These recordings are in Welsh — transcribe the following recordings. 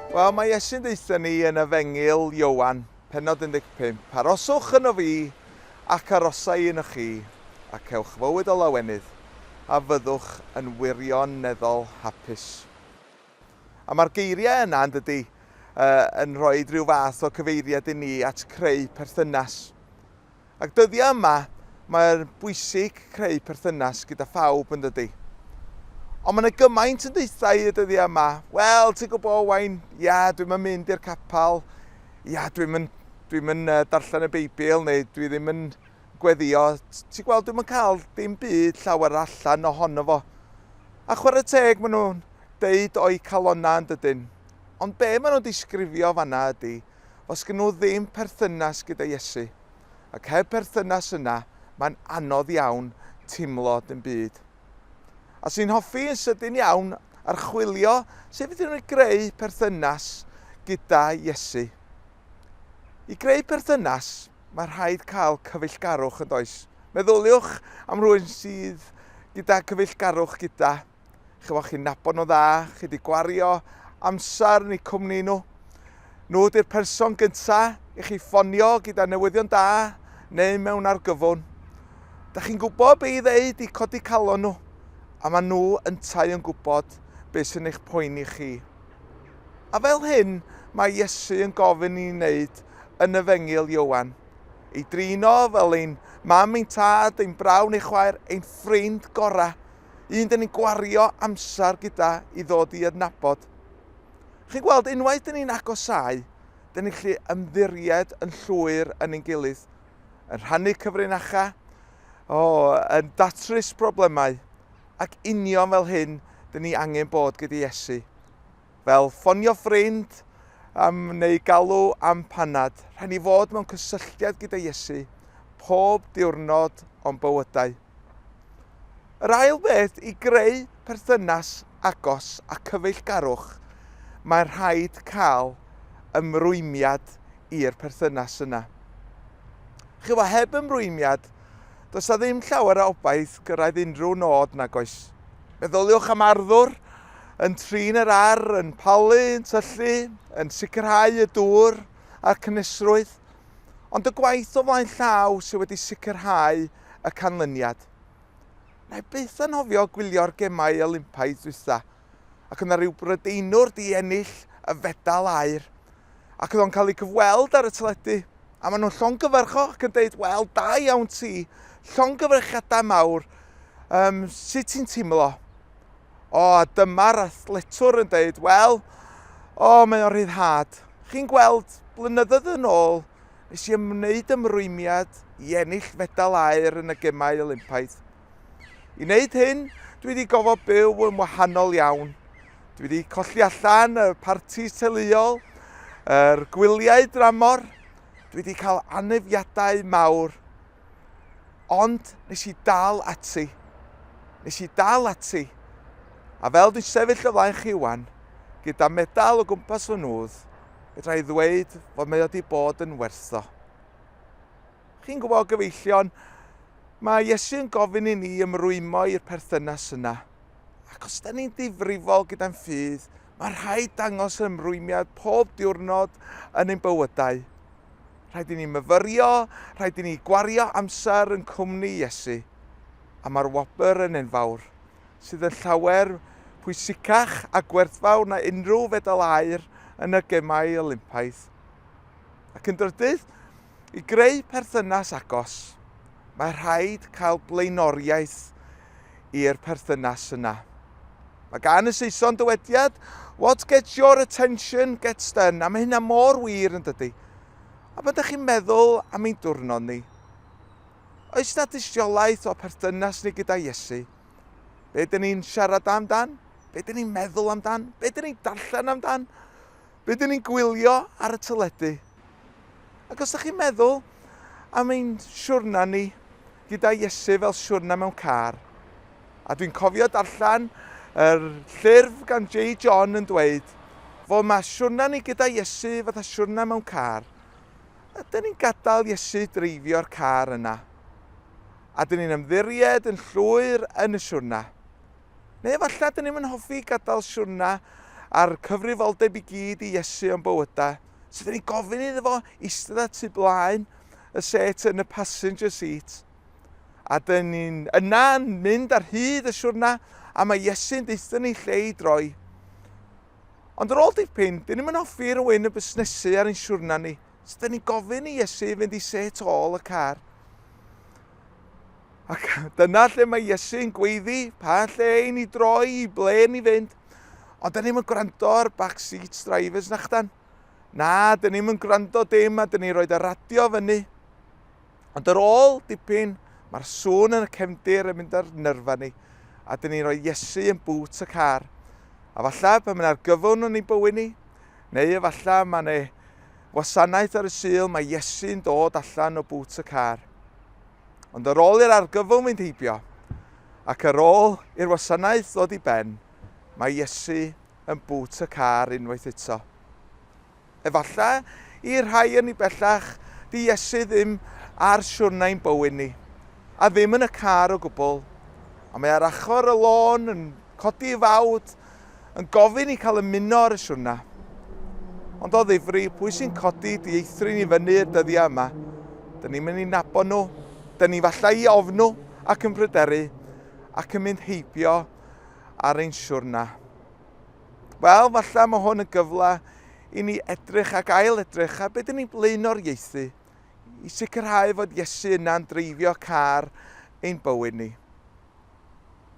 Wel, mae Iesu'n deutha ni yn Efengyl Ioan, pennod 15, Aroswch yno fi, ac arosai yno chi, a cewch fywyd o lawenydd, a fyddwch yn wirioneddol hapus. A mae'r geiriau yna, yn dydy, yn rhoi rhyw fath o cyfeiriad i ni at creu perthynas. Ac dyddiau yma mae'n bwysig creu perthynas gyda phawb yn dydi? Ond mae yna gymaint yn deuthau y dyddiau yma, wel ti'n gwybod Owain, ia dwi'm yn mynd i'r capel, ia dwi'm yn, dwi'm yn uh, darllen y Beibl neu dwi ddim yn gweddio, ti'n gweld dwi'm yn cael dim byd llawer allan ohono fo. A chwarae teg maen nhw'n deud o'i calonau yn dydyn. Ond be maen nhw'n disgrifio fanna ydy, os gyn nhw ddim perthynas gyda Iesu. Ac heb perthynas yna, mae'n anodd iawn timlo dim byd. A sy'n hoffi yn sydyn iawn archwilio sut fydden nhw'n greu perthynas gyda Iesu. I greu perthynas, mae rhaid cael cyfeillgarwch yn does? Meddyliwch am rhywun sydd gyda cyfeillgarwch gyda. Chyfo chi'n nabod nhw dda, chi wedi gwario amser yn eu cwmni nhw. Nhw ydy'r person gyntaf i chi ffonio gyda newyddion da neu mewn argyfwn. Da chi'n gwybod be i ddeud i codi calon nhw, a maen nhw yntau yn gwybod beth sy'n eich poeni chi. A fel hyn mae Iesu yn gofyn i wneud yn y fengil Iowan. Ei drino fel ein mam, ein tad, ein brawn, ei chwaer, ein ffrind gorau. un dyn ni'n gwario amser gyda i ddod i adnabod. Chi'n gweld, unwaith dyn ni'n agosau, dyn ni'n gallu ymddiried yn llwyr yn ein gilydd, yn rhannu cyfrinachau, o, yn datrys problemau, ac union fel hyn, dyn ni angen bod gyda Iesu. fel ffonio ffrind um, neu galw am panad, rhaid ni fod mewn cysylltiad gyda Iesu pob diwrnod o'n bywydau. Yr ail beth i greu perthynas agos a cyfeillgarwch, mae rhaid cael ymrwymiad i'r perthynas yna. Chyfo heb ymrwymiad, does na ddim llawer o obaith gyrraedd unrhyw nod nag oes. Meddyliwch am arddwr yn trin yr ar, yn palu, yn tyllu, yn sicrhau y dŵr a'r cynusrwydd, ond y gwaith o flaen llaw sydd wedi sicrhau y canlyniad. Na i byth anhofio gwylio'r gemau Olympaidd dwytha, ac yna rhyw brydeinwr di ennill y fedal air, ac oedd o'n cael ei gyfweld ar y teledu, a maen nhw'n llongyfarcho ac yn dweud, wel, da iawn ti, llongyfarchiadau mawr, um, sut ti'n teimlo? O, a dyma'r athletwr yn deud, wel, o, mae o'n rhyddhad. Chi'n gweld, blynyddoedd yn ôl, nes i ymwneud ymrwymiad i ennill fedal aer yn y gemau Olympaidd. I wneud hyn, dwi wedi gofod byw yn wahanol iawn. Dwi wedi colli allan y partis teuluol, yr gwyliau dramor, dwi wedi cael anefiadau mawr. Ond nes i dal ati. Nes i dal ati. A fel dwi'n sefyll o flaen chi wan, gyda medal o gwmpas fy nhwdd, fedra i ddweud fod mae o wedi bod yn wertho. Chi'n gwybod, gyfeillion, mae Iesu yn gofyn i ni ymrwymo i'r perthynas yna. Ac os da ni'n difrifol gyda'n ffydd, Mae rhaid dangos ymrwymiad pob diwrnod yn ein bywydau. Rhaid i ni myfyrio, rhaid i ni gwario amser yn cwmni Iesu. A mae'r wobr yn enfawr, sydd yn llawer pwysicach a gwerthfawr na unrhyw fedal aur yn y Gemau Olympaidd. Ac yn drydydd, I greu perthynas agos, mae rhaid cael blaenoriaeth i'r perthynas yna. Mae gan y Saeson dywediad, what gets your attention gets done, a mae hynna mor wir yn dydy. A pan ydych chi'n meddwl am ein diwrnod ni, oes na dystiolaeth o perthynas ni gyda Iesu? Be dyn ni'n siarad amdan? Be dyn ni'n meddwl amdan? Be dyn ni'n darllen amdan? Rydyn ni'n gwylio ar y teledu, ac os ydych chi'n meddwl am ein siwrna ni gyda Iesu fel siwrna mewn car, a dwi'n cofio darllen yr llyrf gan J. John yn dweud fod mae siwrna ni gyda Iesu fatha siwrna mewn car, ydyn ni'n gadael Iesu dreifio'r car yna? Ydyn ni'n ymddiried yn llwyr yn y siwrna? Neu efallai dyn ni'm yn hoffi gadael siwrna a'r cyfrifoldeb i gyd i Iesu o'n bywydau. So dyn ni'n gofyn iddo fo eistedd at tu blaen y set yn y passenger seat. A dyn ni'n yna yn mynd ar hyd y siwrna a mae Iesu'n deutho ni lle i droi. Ond ar ôl dipyn, dyn ni'm yn hoffi rhywun yn busnesu ar ein siwrna ni. So dyn ni'n gofyn i Iesu fynd i set ôl y car. Ac dyna lle mae Iesu'n gweiddi, pa lle i ni droi, i ble ni fynd. Ond dyn ni'n gwrando ar backseat drivers na chdan. Na, dyn ni'n gwrando dim a dyn ni'n rhoi y radio fyny. Ond yr ôl dipyn, mae'r sŵn yn y cefndir yn mynd ar nyrfa ni a dyn ni'n rhoi Iesu yn bwt y car. A falla pan mae'n argyfwn yn ei bywyd ni, neu efallai mae yna Wasanaeth ar y Sul, mae Iesu'n dod allan o bŵt y car. Ond ar ôl i'r argyfwng fynd heibio, ac ar ôl i'r wasanaeth ddod i ben, mae Iesu yn bŵt y car unwaith eto. Efallai i rhai yn ni bellach, di Iesu ddim ar siwrnau'n bywyd ni, a ddim yn y car o gwbl, ond mae ar achor y lôn yn codi i fawd yn gofyn i cael ymuno ar y siwrna. Ond o ddifri, pwy sy'n codi dieithrin i fyny y dyddiau yma? Dyn ni'n mynd i nabod nhw, dyn ni falle i ofn nhw ac yn pryderu ac yn mynd heibio ar ein siwrna. Wel, falle mae hwn yn gyfle i ni edrych ac ail edrych ar beth dyn ni'n blaenoriaethu i sicrhau fod Iesu yna'n dreifio car ein bywyd ni.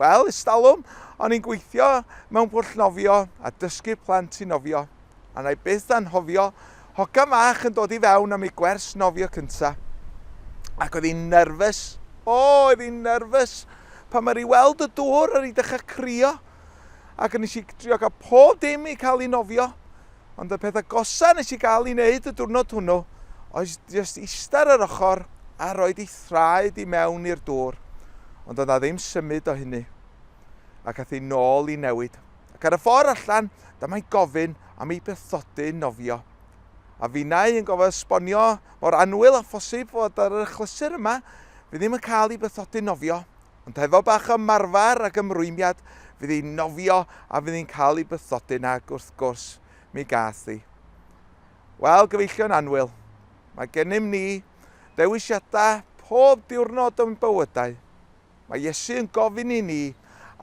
Wel, ers talwm, o'n i'n gweithio mewn pwll nofio a dysgu plant i nofio, a wna i byth anghofio hogan fach yn dod i fewn am ei gwers nofio cynta. Ac oedd hi'n nerfus. O, oedd hi'n nerfus! Pan mae rhi weld y dŵr, ar i dechrau crio. Ac nes i drio cael pob dim i cael ei nofio. Ond y peth agosa nes i gael i neud y diwrnod hwnnw oedd jyst ista ar yr ochr a rhoi dy thraed i mewn i'r dwr. Ond doedd 'na ddim symud o hynny. Ac ath hi nôl i newid. Ac ar y ffor allan, damai'n gofyn am ei bethodyn nofio. A finnau yn gofod esbonio mor annwyl â phosib fod ar yr achlysur yma, fi ddim yn cael i bethodyn nofio. Ond hefo bach o ymarfer ac ymrwymiad, fydd hi'n nofio a fydd hi'n cael ei bythodyn ac wrth gwrs, mi gath hi. Wel, gyfeillion anwyl, mae gennym ni ddewisiadau pob diwrnod o'n bywydau. Mae Iesu yn gofyn i ni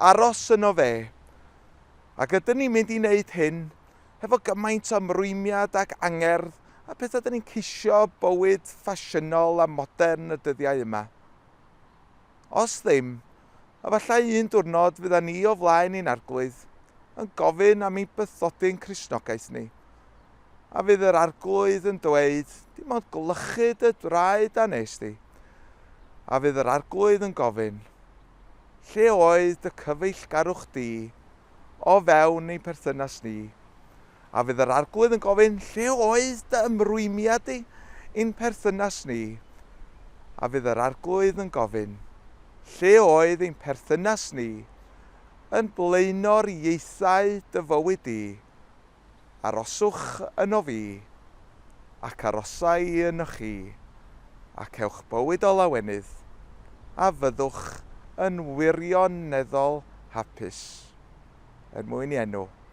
aros yno fe. Ac ydyn ni'n mynd i wneud hyn hefo gymaint o ymrwymiad ac angerdd a pethau ydyn ni'n ceisio bywyd ffasiynol a modern y dyddiau yma. Os ddim, efallai un diwrnod fyddan ni o flaen ein arglwydd yn gofyn am ein bythodyn Cristnogaeth ni, a fydd yr arglwydd yn dweud, dim ond gwlychu dy draed a nes di. A fydd yr arglwydd yn gofyn, lle oedd dy cyfeillgarwch di o fewn ein perthynas ni? A fydd yr Arglwydd yn gofyn, Lle oedd dy ymrwymiad di i'n perthynas ni? A fydd yr Arglwydd yn gofyn, Lle oedd ein perthynas ni yn blaenor ieithau dy fywyd di? Aroswch ynof fi, ac arosa i ynoch chi, ac ewch bywyd o lawenydd, a fyddwch yn wirioneddol hapus. Er mwyn i enw.